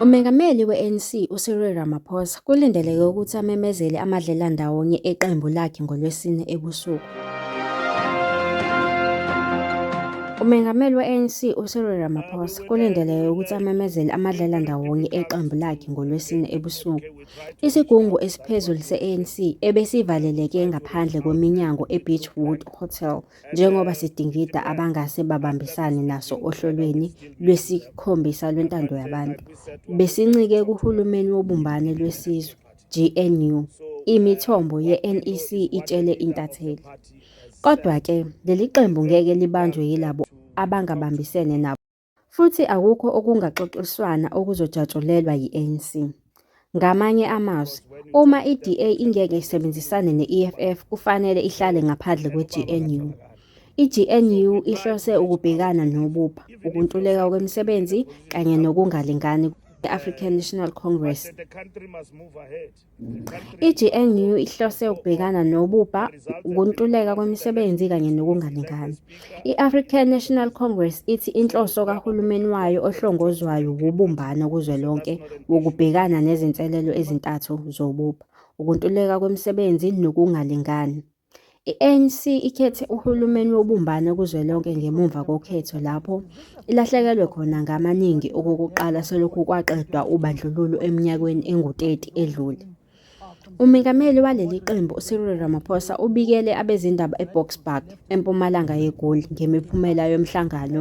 Umengameli we-ANC uCyril Ramaphosa kulindeleke ukuthi amemezele amadlela ndawonye eqembu lakhe ngoLwesine ebusuku. Umengameli we-ANC uCyril Ramaphosa kulindeleke ukuthi amemezele amadlela ndawonye eqembu lakhe ngoLwesine ebusuku. Isigungu esiphezulu se-ANC ebesivaleleke ngaphandle kweminyango eBeachwood Hotel njengoba sidingida abangase babambisane naso ohlolweni lwesikhombisa lwentando yabantu. Besincike kuhulumeni wobumbane lwesizwe, GNU, imithombo ye-NEC itshele intatheli. Kodwa-ke leli qembu ngeke libanjwe yilabo abangabambisene nabo. Futhi akukho okungaxoxiswana okuzojatshulelwa yi-ANC. Ngamanye amazwi, uma iDA ingeke isebenzisane ne-EFF kufanele ihlale ngaphandle kweGNU. IGNU ihlose ukubhekana nobubha, ukuntuleka kwemisebenzi kanye nokungalingani kwe-African National Congress. I-GNU ihlose ukubhekana nobubha, ukuntuleka kwemisebenzi kanye nokungalingani. I-African National Congress ithi inhloso kahulumeni wayo ohlongozwayo wubumbano kuzwelonke wokubhekana nezinselelo ezintathu zobubha, ukuntuleka kwemisebenzi nokungalingani. I-ANC ikhethe uhulumeni wobumbano kuzwelonke ngemuva kokhetho lapho ilahlekelwe khona ngamaningi okokuqala selokhu kwaqedwa ubandlululo eminyakeni engu-30 edlule. UMengameli waleli qembu uCyril Ramaphosa ubikele abezindaba eBoksburg, empumalanga yeGoli ngemiphumela yomhlangano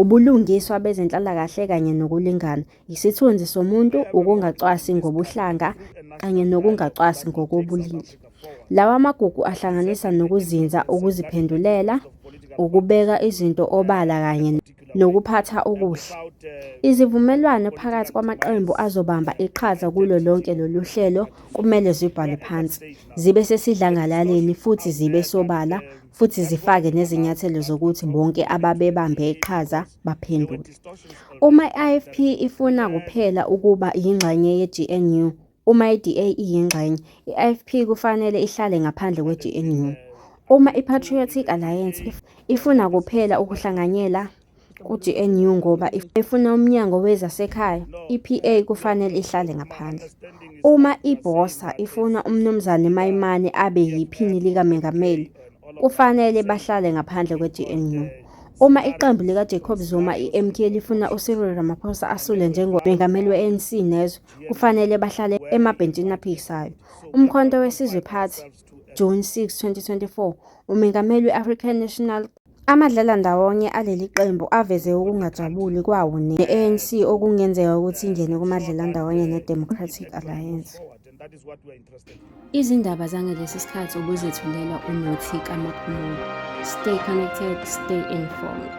ubulungiswa bezenhlalakahle kanye nokulingana, isithunzi somuntu, ukungacwasi ngobuhlanga kanye nokungacwasi ngokobulili. Lawa magugu ahlanganisa nokuzinza, ukuziphendulela, ukubeka izinto obala kanye nokuphatha okuhle. Izivumelwano phakathi kwamaqembu azobamba iqhaza kulo lonke lolu hlelo kumele zibhalwe phansi, zibe sesidlangalaleni futhi zibe sobala futhi zifake nezinyathelo zokuthi bonke ababebambe iqhaza baphendule. Uma i-IFP ifuna kuphela ukuba yingxenye ye-GNU, uma i-DA iyingxenye, i-IFP kufanele ihlale ngaphandle kwe-GNU. Uma i-Patriotic Alliance ifuna kuphela ukuhlanganyela ku-GNU ngoba efuna umnyango wezasekhaya iPA kufanele ihlale ngaphandle. Uma iBosa ifuna uMnumzane Mayimane abe yiphini likamengameli kufanele bahlale ngaphandle kwe-GNU. Uma iqembu likaJacob Zuma iMK lifuna uCyril Ramaphosa asule njengomengameli we-ANC nezwe kufanele bahlale emabhentshini aphikisayo. Umkhonto weSizwe Party, June 6, 2024, uMengameli we-African National Amadlala ndawonye aleli qembu aveze ukungajabuli kwawo ne-ANC okungenzeka ukuthi ingene kumadlala ndawonye ne-Democratic Alliance. Izindaba zangalesi sikhathi ubuzethulelwa uNothi kaMaphumulo. Stay connected, stay informed.